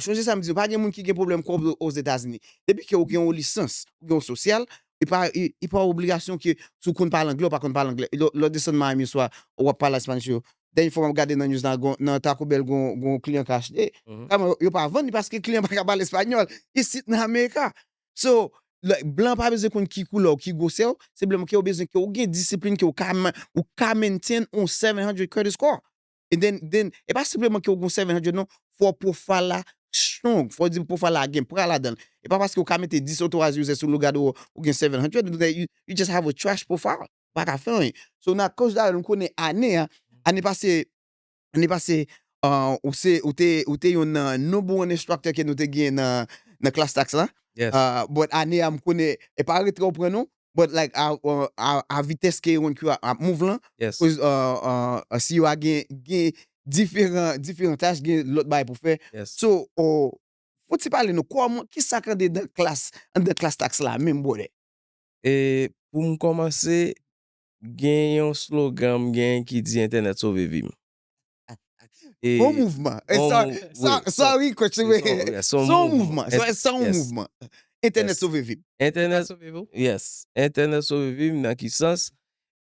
Sonje sa m di w, pa gen moun ki gen pwoblèm kòb yo Ozetazini. Depi ke ou gen yon lisans, ou gen yon sosyal, e pa e pa obligasyon ke si w konn pale angle ou pa konn pale angle. Lè w desann Miami yon swa, ou ap pale a Spanish yo. Dènye fwa m ap gade nan news la, gon nan Taco Bell gon gon kliyan ka achte, kaman yo pa vann li paske kliyan pa ka pale espanyòl isit nan Amerika. So, lè blan pa bezwen konn ki koulè w, ki gwosè w, senpleman ke yo bezwen ke ou gen disiplin ke ou ka ou ka maintain yon 700 credit score. And then then e pa senpleman ke ou gon 700 non, fò profile la strong, fò di profile la gen pra ladan l. E pa paske ou ka mete 10 authorized user sou lougade ou ou gen 700, you just have a trash profile, ou pa ka fè anyen. So nan case la nou konnen ane a, ane pase, ane pase ou se ou te ou te yon nan number one instructor ke nou te gen nan nan class tax la, but ane a m konnen e pa retrè ou pran non, but like a vitès ke yon Q ap move lan, koz CEO a gen diferan tach, gen lòt bagay pou fè, so fò ti pale nou kòman, ki sa k an dedan klas, an dedan klas tax la menm brother? E pou m kòmanse, gen yon slogan m gen ki di entènèt sove vi m. E Son mouvman. E bon sa, mou, sa, wi, sa son, wi kòtch, e son, yes, son Son mouvman. mouvman. Ent, Sa son yes, mouvman. Entènèt yes. sove vi m. Entènèt Entènèt, sove vi w. yes. Entènèt sove vi m nan ki sans?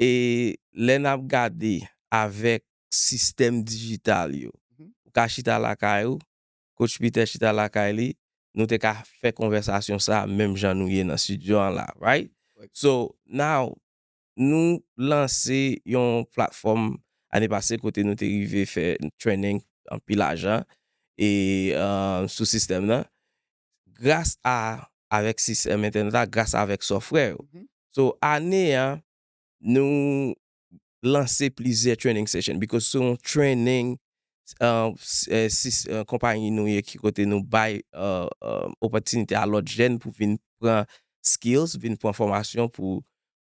E lè n ap gade avèk sistèm dijital yo, ou ka chita lakay ou, kotch Pitè chita lakay li, nou te ka fè konvèsasyon sa a menm jan nou ye nan stidyo an la a, right? Right. So, now, nou lanse yon platfòm ane pase kote nou te rive fè training anpil ajan e sou sistèm nan gras a avèk sistèm entènèt la gras avèk software yo so ane a nou lanse plizyè training session because se yon training konpayi nou ye ki kote nou bay opòtinite a lòt jèn pou vin pran skills vin pran fòmasyon pou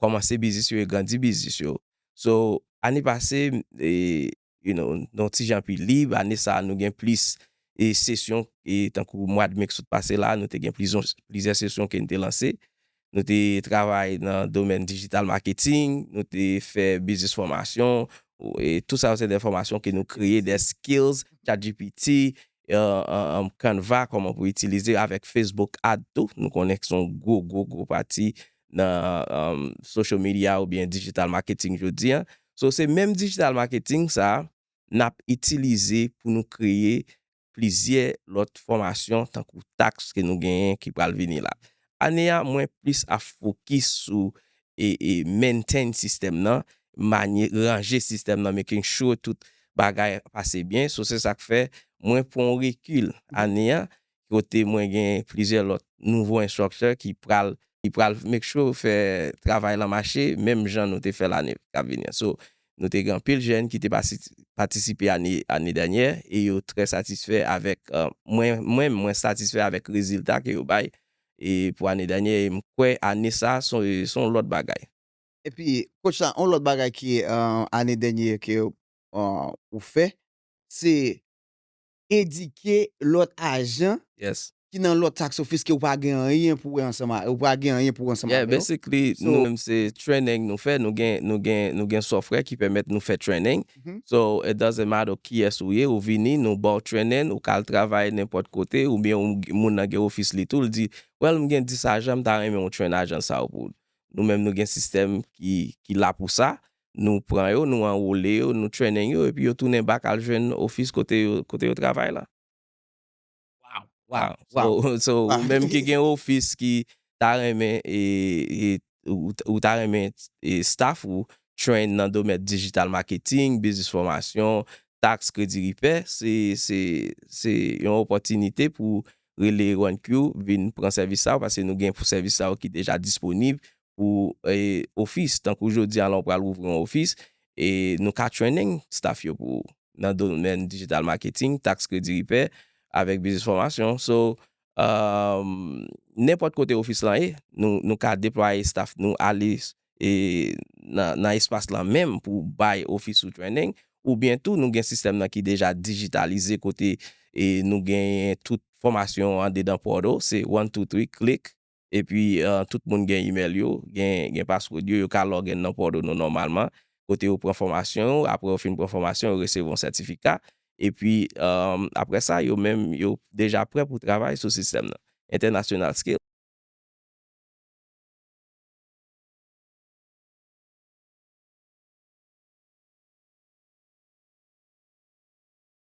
kòmanse biznis yo e grandi biznis yo. So, ane pase, you know, nou ti jan pi lib, ane sa a nou gen plis sesyon e tankou mwad me k sot pase la a nou te gen plizyè sesyon ke n te lanse. Nou te travay nan domèn digital marketing, nou te fè biznis fòmasyon, e tou sa yo se de fòmasyon ke nou kreye, de skills, chatgpt, canva, kòman pou itilize avèk facebook ad tou, nou konnen ki son gwo gwo gwo pati nan social media oubyen digital marketing jodi an. So se menm digital marketing sa nap itilize pou nou kreye plizyè lòt fòmasyon tankou tax ke nou genyen ki pral vini la. Ane a mwen plis ap fokis sou maintain sistèm nan, manye, ranje sistèm nan, making sure tout bagay pase byen. So se sak fè mwen pran yon rekil ane a kote mwen gen plizyè lòt nouvo instructor ki pral ki pral make sure fè travay lan mache menm jan nou te fè l ane kap vini an. So nou te gen anpil jèn ki te pasi patisipe ane ane dènyè e yo trè satisfè avèk mwen menm mwen satisfè avèk rezilta ke yo bay e pou ane dènyè e m kwè ane sa a son se yon lòt bagay. Epi coach la yon lòt bagay ki ane dènyè ke ou fè se edike lòt ajan ki nan lòt tax office ke ou pa gen anyen pou wè ansanm a, ou pa gen anyen pou wè ansanm avè yo. Yeah, basically, nou menm se training nou fè, nou gen, nou gen, nou gen software ki pèmèt nou fè training. So, it doesn't matter kiyès ou ye, ou vini, nou ba w training, ou ka al travay nenpòt kote, oubyen ou, moun nan gen office li tou, li di, well, m gen 10 ajan, m ta renmen ou train ajan sa yo pou, nou menm nou gen system ki, ki la pou sa, Nou pran yo, nou anwole yo, nou trennen yo epi yo tounen bak al jwenn ofis kote yo travay la. So ou menm ki gen ofis ki ta renmen ou ta renmen staff ou train nan domèt digital marketing, biznis fòmasyon, tax, kredi ripè, se yon opòtinite pou rele 1Q vin pran sèvis sa yo paske nou gen pou sèvis sa yo ki deja disponib pou ofis tankou jodi a la w pral ouvri yon ofis e nou ka training staff yo pou ou nan domèn digital marketing, tax kredi ripè avèk biznis fòmasyon so nenpòt kote ofis lan ye nou ka deplwaye staff nou ale nan espas lan menm pou bay ofis ou training oubyen tou nou gen sistèm nan ki deja digitalize kote nou genyen tout fòmasyon andedan portal se one two three click. epi tout moun gen imèl yo, gen paswòd yo, yo ka lòg in nan pòdo nou nòmalman, kote yo pran fòmasyon yo, apre yo fin pran fòmasyon yo resevwa yon sètifika, epi apre sa yo menm yo deja prè pou travay sou sistèm nan. International Skills.